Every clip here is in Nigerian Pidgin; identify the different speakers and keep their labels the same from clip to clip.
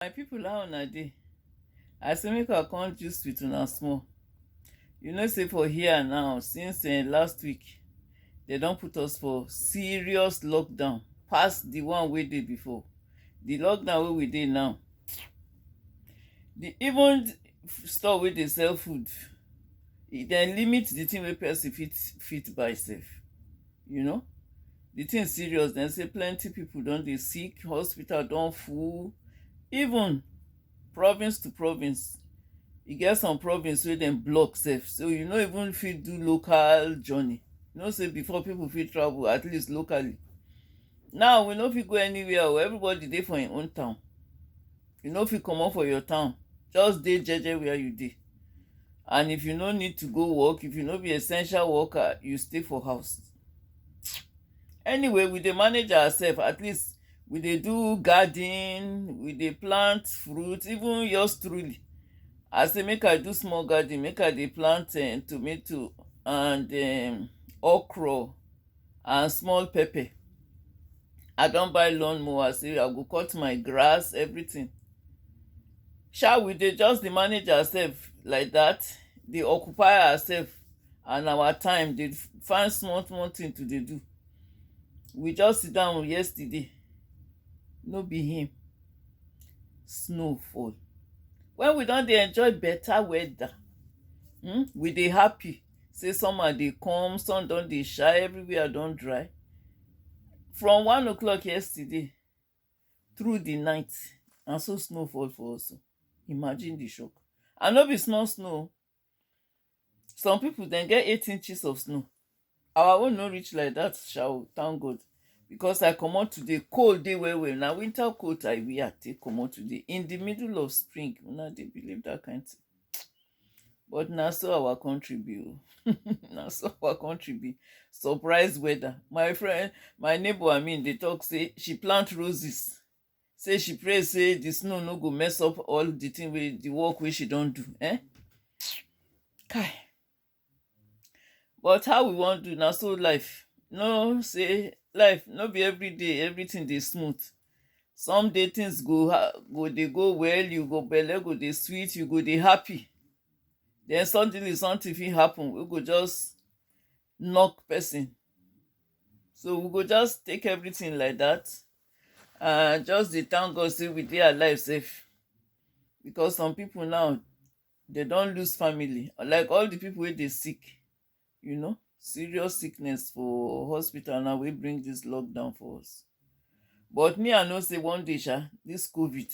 Speaker 1: My people how una dey? I say make I come gist with una small. You know say for here now since eh, last week they don put us for serious lockdown pass the one wey dey before. The lockdown wey we dey now, the even store wey dey sell food, e dem limit the thing wey person fit fit buy sef, you know. the thing serious dem say plenty people don dey sick hospital don full even province to province e get some province wey dem block sef so you no even fit do local journey you know say before people fit travel at least locally now we no fit go anywhere o everybody dey for im own town you no fit comot for your town just dey jeje where you dey and if you no need to go work if you no be essential worker you stay for house anyway we dey manage ourselves at least we dey do garden we dey plant fruit even yours truly i say make i do small garden make i dey plant um, tomato and um, okra and small pepper i don buy lawn mower say i go cut my grass everything sha we dey just dey manage ourselves like that dey occupy ourselves and our time dey find small small thing to dey do we just sit down yesterday no be him snow fall when we don dey enjoy better weather hmm, we dey happy say summer dey come sun don dey shine everywhere don dry from one o'clock yesterday through the night na so snow fall for us imagine the shock and no be small snow some people dem get eight inches of snow our own no reach like that sha o thank god because i comot today cold dey well well na winter coat i wear take comot today in the middle of spring una dey believe that kind thing but na so our country be o na so our country be surprise weather my friend my neighbor i mean dey talk say she plant roses say she pray say the snow no go mess up all the thing wey the work wey she don do eh kai but how we wan do na so life no say life no be every day everything dey smooth some day things go ha- go dey go well you go belle go dey sweet you go dey happy then suddenly something fit happen wey go just knock person so we go just take everything like that I just dey thank God say we dey alive safe because some people now they don't lose family. Like all the people where they sick, you know, serious sickness for hospital now we bring this lockdown for us. But me, I know say one day, sha, this COVID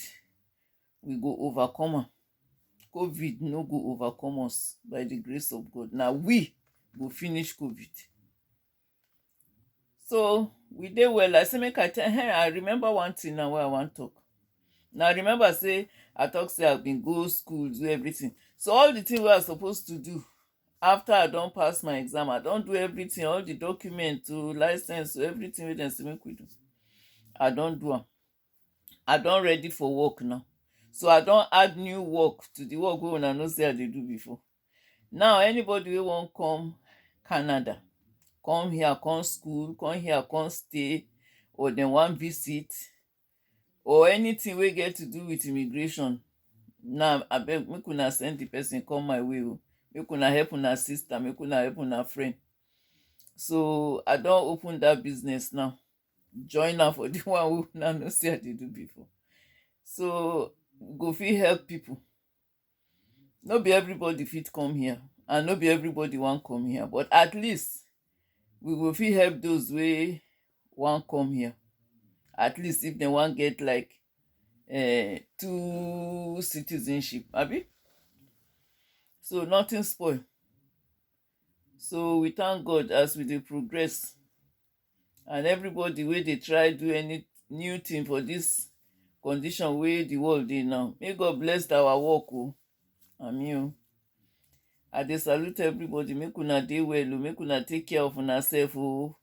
Speaker 1: we go overcome am. COVID no go overcome us by the grace of God. Now we go finish COVID. So we dey well. I say make I tell her. I remember one thing now where I want talk. Now I remember say I talk say I've been go school, do everything. So all the thing we are supposed to do after I don't pass my exam, I don't do everything, all the document to license to everything with them say make we do. I don't do am. I don't ready for work now. So I don't add new work to the work we una know say I dey do before. Now, anybody wey wan come Canada, come here come school, come here come stay or dem wan visit or anything wey get to do with immigration, now abeg make una send the person come my way o. Make una help una sister, make una help una friend. So I don open that business now. Join am for the one wey una know say I dey do before. So go fit help people. no be everybody fit come here and no be everybody wan come here but at least we go fit help those wey wan come here at least if dem wan get like um two citizenship abi so nothing spoil so we thank God as we dey progress. and everybody wey dey try do any new thing for this condition wey the world dey now may god bless our work o ami o i dey salute everybody make una dey well o make una take care of una self o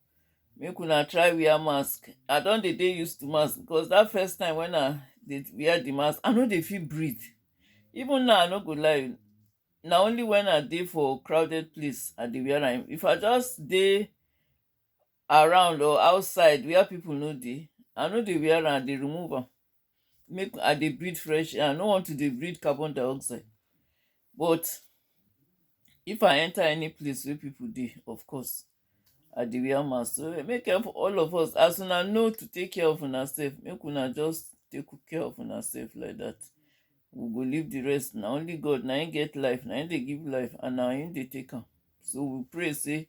Speaker 1: make una try wear mask i don dey dey used to mask because that first time when i dey wear the mask i no dey fit breathe even now i no go lie na only when i dey for crowded place i dey wear am if i just dey around or outside where people no dey i no dey wear am i dey remove am make i dey breathe fresh air i no want to dey breathe carbon dioxide but if i enter any place wey people dey of course i dey wear mask so eh, make ev- all of us as una know to take care of una self make una just take care of una self like that we go leave the rest na only god na him get life na him dey give life and na him dey take am so we pray say